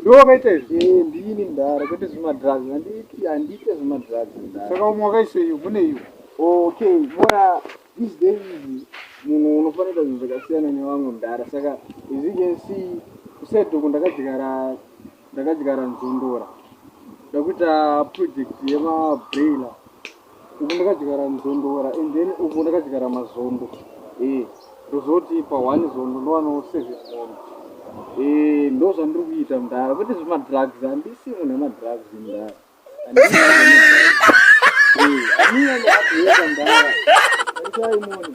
ndowakaita izvi eh, ndini mdara kwete zvemadrugs handiite zvemadrugs saka umwe wakaisei mune iyo okay mona these days munhu unofanira zvinhu zvakasiyana nevamwe mdara saka as you can see kusedoko ndakadyara ndakadyara nzondora ndakuita project yemabrailer uku ndakadyara nzondora and then uku ndakadyara mazondo eh ndozoti pa one zondo ndowanawo seven mombe eh ndo zvandiri kuita mudhara kwete zvemadrugs handisi munhu wemadrugs mudhara handisi amina neakuenda mudhara aitai moni